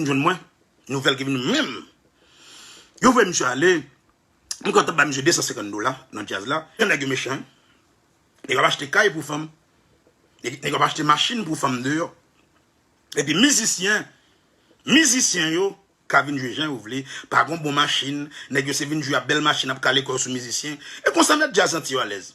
vin jwenn mwen, nouvèl ki vin menm, yo voye misye ale, m konn tap bay misye 250 dola nan djaz la, jan nèg yo mechan wi, nèg yo ap achte kay pou fanm, nèg yo ap achte machin pou fanm deyò, epi mizisyen, mizisyen yo ka vin jwe jan yo vle, pa gon bon machin, nèg yo se vin jwe ap bèl machin ap kale kò yo sou mizisyen, e konsa mèt djaz santi yo alèz.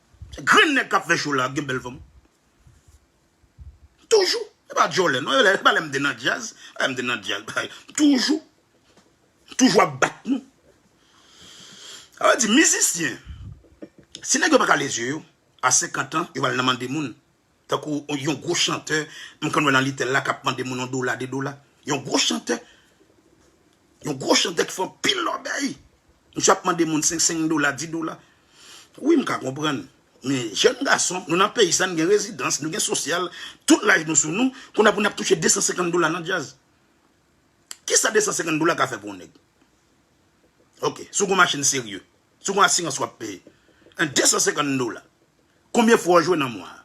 Grenn nèg kap fè show la gen bèl fanm toujou e pa djòlè non e pa lèm te nan djaz e lèm te nan djaz bagay toujou toujou ap bat nou sa vle di mizisyen si nèg yo paka leve zye yo a 50 ans yo pral nan mande moun Tankou yon gwo chantè m konn wè nan litèl la kap mande moun yon dola 2 dola yon gwo chantè yon gwo chantè ki fè anpil lòbèy misye ap mande moun 5 5 dola 10 dola wi m ka konprann men jèn gason nou nan peyi sa n gen rezidans nou gen sosyal tout laj nou sou nou kounye a pou n ap touche 250 dola nan djaz kisa 250 dola ka fè pou yon nèg ok si w gen yon machin serye. Si w gen asirans w ap peye 250 dola, konbyen fwa w jwe nan mwa a?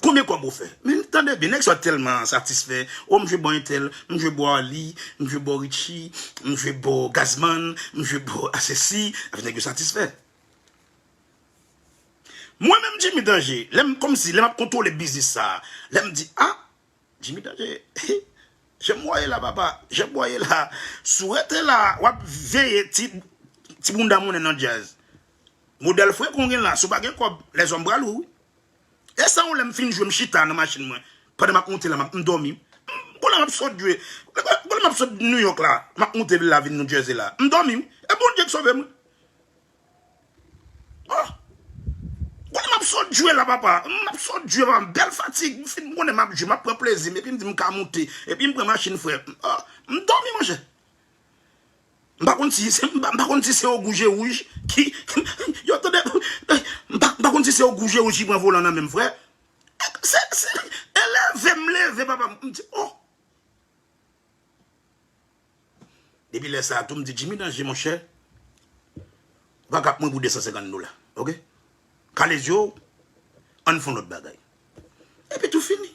Konbyen kòb ou fè? Men tande byen, nèg sa yo tèlman satisfè, o m jwe bò entèl, m jwe bò Arly, m jwe bò Richie, m jwe bò Gazzman, m jwe bò Asesi, epi nèg yo satisfè. Mwen menm Jimmy Danger, lè m kòmsi lè m ap kontwole biznis sa a, lè m di a! Jimmy danje wi Jan bwa ye la papa Jan bwa ye la si w rete la wap veye ti bounda moune nan djazz modèl frekon w gen la si w pa gen kòb lèzòm pral ou wi e sa yon lè m fin jwe m chita nan machin mwen pandan map moute la m dòmi bon la map sot jwe bon la map sot New York la map moute vin la vin New Jersey la m dòmi wi e Bondye k sove mwen. Oh Konnen map sot jwe la papa Map sot jwe papa Bèl fatig M fin konnen map jwe Map pran plezim Epi m di m ka moute Epi m pran machin frè Oh M dòmi monchè M pa konn si M pa konn si se ogou je wouj Ki Yo tande M pa konn si se ogou je wouj ki pran volan nan menm frè Se se E leve m leve papa M di oh. Depi lè sa tou m di Jimmy Danger monchè ou pa ka ap mwen pou 250 dola ok kale zye w ann fon lòt bagay epi tou fini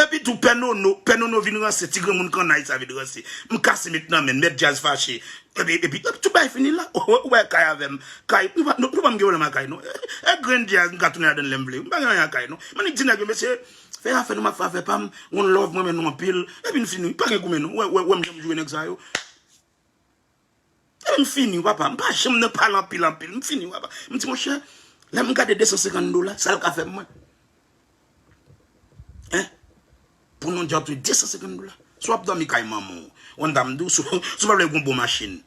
epi tou pè nono pè nono vin ranse ti granmoun kannay sa vin ranse m kase met nan men n mèt djaz fache epi tout bagay fini la ou wè kay avè m kay nou pa m gen pwoblèm ak kay non e grenn djaz m ka tounen ladan l lè m vle m pa gen anyen ak kay non m annik di nèg yo mesye Fè afè nou map fè afè pam one love m renmen nou anpil epi n fini pa gen goumen non wè wè wèm janm joure nèg sa yo epi m fini wi papa m pa janm nan pale anpil anpil m fini wi papa m di monchè lè m gade 250 dola sa l ka fè mwen hein pou nou dyòb se 250 dola si w ap dòmi kay manman w one dam di w si w pa vle gen yon bon machin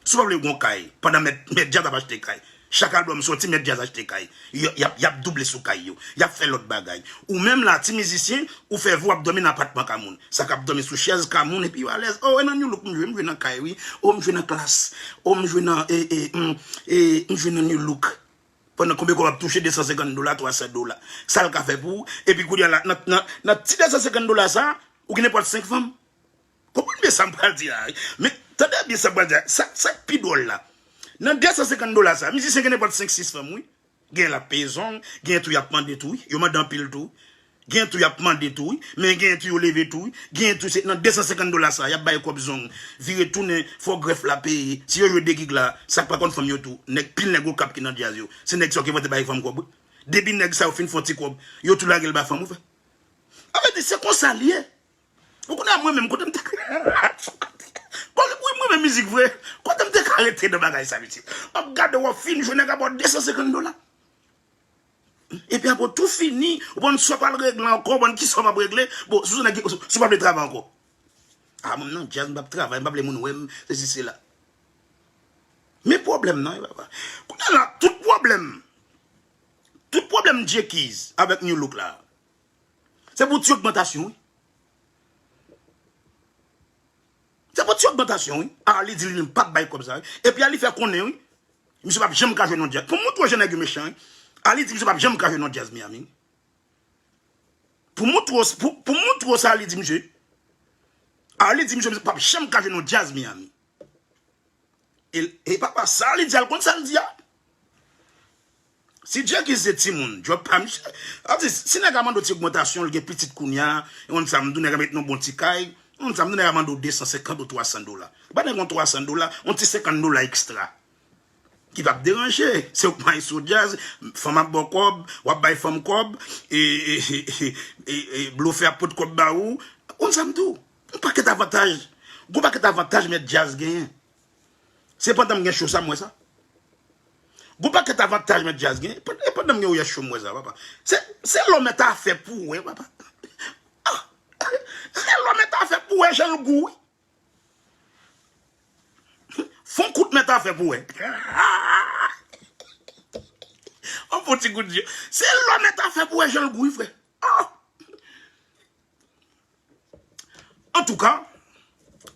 Si w pa vle gen yon kay pandan mèt djaz ap achte kay, chak album soti mèt djaz achte kay, yap double sou kay yo, yap fè lòt bagay. Ou menm la ti mizisyen ou fè vi w ap dòmi nan apatman ka moun, sa kap dòmi sou chèz ka moun epi yo alèz oh e nan new look m jwe, m jwe nan kay wi, oh m jwe nan klass, oh m jwe nan m jwe nan new look pandan konbe kòb ap touche 250 dola 300 dola sal ka fè pou ou epi kounye a la nan ti 250 dola sa ou gen nenpòt 5 fanm. Konprann byen sa m pral di la wi. Men, tande byen sa m pral di la. Sa sa k pi dwòl la, nan 250 dola sa a, mizisyen gen nenpòt 5, 6 fanm wi. Genyen l ap peye zong, genyen tou y ap mande tou wi. Yo mande anpil tou wi. Genyen tou y ap mande tou wi. Men genyen tou yo leve tou wi. Genyen tou se nan 250 dola sa a, y ap bay kòb zong. Vire tounen, fò grèf la peye. Si yo jwe 2 gig la, sa k pa konn fanm yo tou, nèg pil nèg okap ki nan djaz yo, se nèg sa yo ki pote bay fanm kòb wi. Depi nèg sa yo fin fè yon ti kòb, yo tou lage l ba fanm wi frè. An vètè, se konsa l ye. Ou konnen mwen menm kotem te Wi mrenmen mizik vre Kotem te ka rete nan bagay sa mesye Wap gade wap fin jwe nèg ap baw 250 dola Epi apre ou tou fini ou pa konn sa wap al regle ankò ou pa konn kisa wap regle bon si ou pa vle travay ankò A mwen nan djaz m pap travay m pa vle moun wèm sesi sela Men pwoblèm nan Kounye la tout pwoblèm Tout pwoblèm Djekiz avèk Nu Look la. Se pou ti ogmantasyon wi. Se pou ti ogmantasyon wi. Arly di li menm pap bay kob sa wi. Epi Arly fè konnen wi. Misye pap janm ka jwe nan jazz. Pou mwen twò jè nèg yo mechan wi. Arly di misye pap janm ka jwe nan jazz Miami wi. Pou mwen twò sa pou mwen twò sa Arly di misye. Arly di misye pap janm ka jwe nan jazz Miami. He papa sa li di a l konn sa l di a si Jacky se timoun job pa misye atis si nèg a mande w ti ogmantasyon l gen pitit kounya ou konn sa m di w nèg a met nan w bon ti kay ou konn sa m di w nèg a mande w 250 ou 300 dola ba nèg yon 300 dola yon ti 50 dola ekstra ki pa p deranje se w k may sou djaz fanm ap ba w kòb w ap bay fanm kòb e blofè ap pot kòb ba ou ou konn sa m di w Yon pakèt avantaj, gon pakèt avantaj mèt djaz genyen. Se pandanm gen show sa m wè sa. Gon pakèt avantaj mèt djaz genyen. E pandanm gen ouyèt show m wè sa papa. Se lò mèt afè pou wè papa. Se lò mèt afè pou wè jan l gou wi. Fon kout mèt afè pou wè. An fon ti kout di. Se lò mèt afè pou wè jan l gou wi frè. Antouka,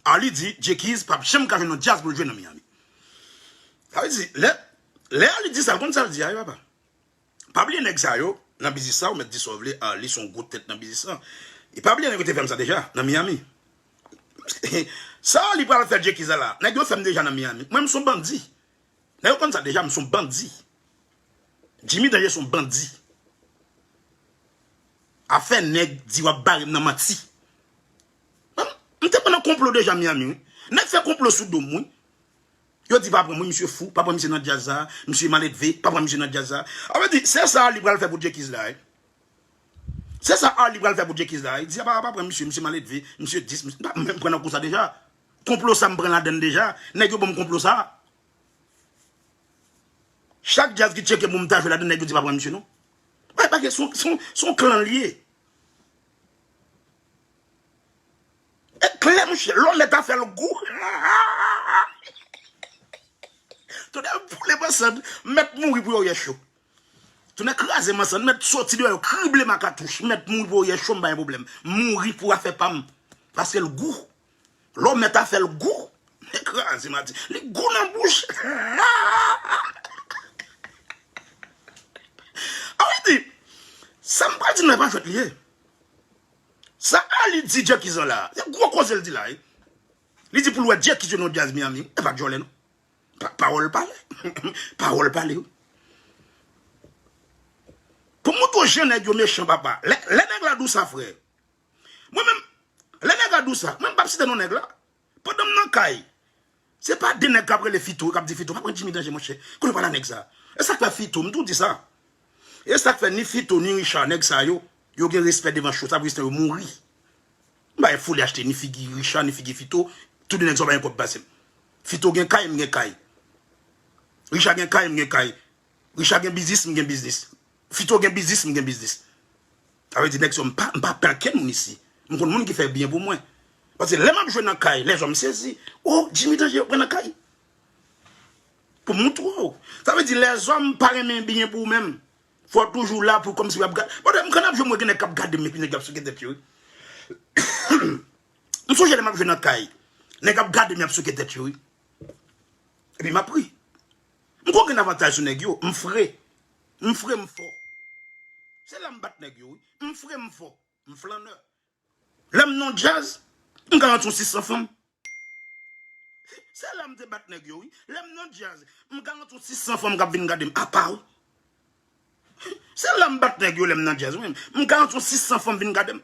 Arly di J-Keys pap janm ka jwenn yon djaz pou l jwe nan Miami. Sa vle di, lè Arly di sa, l konn sa l di a wi papa. Pa bliye nèg sa yo nan biznis la, ou mèt di sa w vle, Arly se yon gwo tèt nan biznis lan. E pa bliye nèg yo te fè m sa deja nan Miami. Sa Arly pral fè J-Keys la la, nèg yo fè m deja nan Miami. Mwen m son bandi. Nèg yo konn sa deja m son bandi Jimmy danje son bandi afè nèg di wap barem nan manti m te konn nan konplo deja Miami wi nèg fè konplo sou dom wi yo di pa pranm wi misye fou pa pran misye nan djaz sa misye maledve pa pran misye nan djaz sa a vle di se sa Arly pral fè pou Djekiz la wi se sa Arly pral fè pou Djekiz la wi di apa pa pran misye misye maledve misye dis misye pa menm pran nan kou sa deja Konplo sa m pran ladann deja. Nèg yo banm konplo sa. Chak djaz ki tcheke poum ta jwe ladann nèg yo di pa pran misye non. Bay pa gen son son klan li ye. E klè monchè lò mèt a fèl gou. Tonnè boule mansand mèt mouri pou yo yè cho. Tonnè kraze mansand mèt soti deyò yo krible ma katouch mèt mouri pou yo yè cho m pa gen pwoblèm. Mouri pou afè pam paskel gou. Lò mèt a fèl gou li kraze mati li gou nan bouch Arly di Sam pral di nou epa jwèt li ye Sa Arly di Jacky zan la se gwo koze l di la wi Li di poul wè Jacky se non Jazz Miami wi epa djòlè non Pawòl pale Pawòl pale wi Pou moutre w jan nèg yo mechan papa Lè nèg la dou sa fre Mwen menm, lè nèg la di w sa, mwen m pap site non nèg la. Pandan m nan kay, se pa de nèg k ap rele Fito, k ap di Fito, m ap pran Jimmy Danje monchè, kote w pale a nèg sa. E sa k fè Fito, m toujou di sa, e sa k fè ni Fito ni Richard, nèg sa yo, yo gen respè devan cho, sa pou Jistin yo mouri. M pa gen foli achte ni figi Richard, ni figi Fito, tou de nèg sa yo pa gen kòb pase m. Fito gen kay, m gen kay. Richard gen kay, m gen kay. Richard gen biznis, m gen biznis. Fito gen biznis m gen biznis. Sa vle di nèg sa yo m pa m pa pè ankenn moun isi. M konn moun ki fè byen pou mwen. Pase lè m ap jwe nan kay lèzò m sezi. O Jimmy Danje pran nan kay. Pou m montre w. Sa vle di lèzò m pa renmen byen pou ou menm. Fò w toujou la pou kòmsi w ap gad. Bon m konn ap jwe m wè gen nèg k ap gade m epi nèg yo ap souke tèt yo wi. M sonje lè m ap jwe nan kay. Nèg ap gade m y ap souke tèt yo wi. Epi m ap ri. M konn gen avantaj sou nèg yo. M fre. M fre m fò. Se la m bat nèg yo wi. M fre m fò. M flanneur. Lè m nan djaz, m ka antre yon 600 fanm. Se la m te bat nèg yo wi. Lè m nan djaz, m ka antre yon 600 fanm k ap vin gade m apa wi. Se la m bat nèg yo lè m nan djaz. M ka antre yon 600 fanm vin gade m.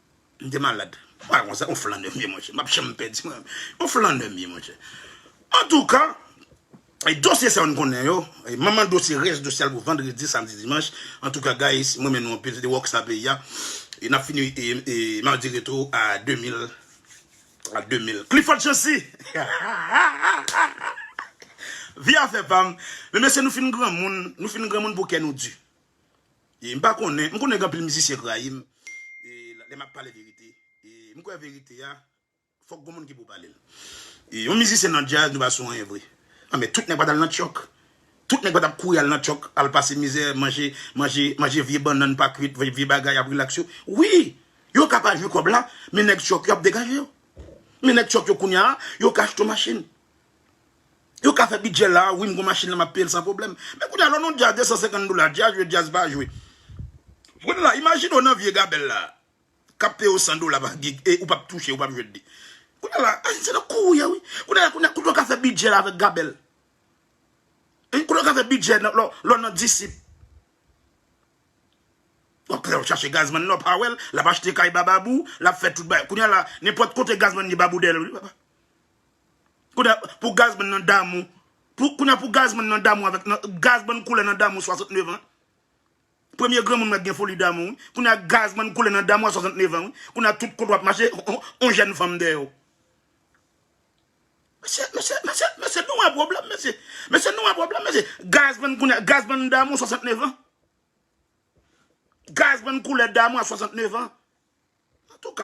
M te malad. Bagay konsa yon flannè m ye monchè. M pap janm pèdi mwen. Yon flannè m ye monchè. Antouka, dosye sa yo n konnen yo. Manman dosye, rès dosye al pou vandredi, samdi, dimanch. Antouka guys, m renmen nou anpil. Se te Rock Star Peyi a. N ap fini madi retou a 2000. A 2000. Clifford Chancy! Vye afè pa m. Men mesye nou fin granmoun. Nou fin granmoun pou kè nou di. E m pa konnen, m konnen gen anpil mizisyen k rayi m lè m ap pale verite. E m kwè verite a, fòk gon moun ki pou pale l. E yon mizisyen nan djaz nou pa sou anyen vre. Anben tout nèg pa t al nan tyòk. Tout nèg pa t ap kouri al nan tyòk, al pase mizè, manje, manje, manje vye bannann pa kuit, manje vye bagay ap rilaks yo. Wi! Yo ka pa jwi kòb la, men nèg tyòk yo ap degaje yo. Men nèg tyòk yo kounye a, yo ka achte yon machin. Yo ka fè bidjè la a wi m gon machin la m ap peye l san pwoblèm. Men kounye a lè w nan yon djaz 250 dola, djaz jwe djaz pa jwe. W konnen la, imajine w nan vye gabèl la a k ap peye w 100 dola pa gig e ou p ap touche, ou p ap jwenn li. Kounye a la, Ayiti se nan kou ou ye wi. Kounye a, kote w ka fè bidjè la avèk gabèl? Hein, kote w ka fè bidjè lè w nan disip? W ap pran chache gazman nan, w pa wè l, l ap achte kay ba babou, l ap fè tout bagay. Kounye a la, nenpòt kote gazman gen babou dèyè l wi papa. Kounya pou Gazman nan damou pou kounya pou Gazman nan damou avèk nan Gazman koule nan damou 69 ans premye granmoun mwen gen foli damou wi kounya Gazman koule nan damou a 69 ans wi kounya tout kote wap mache on jèn fanm dèyè w mesye mesye mesye mesye nou wè pwoblèm mesye mesye nou wè pwoblèm mesye Gazman kounya Gazman damou 69 ans Gazman koule damou a 69 ans antouka.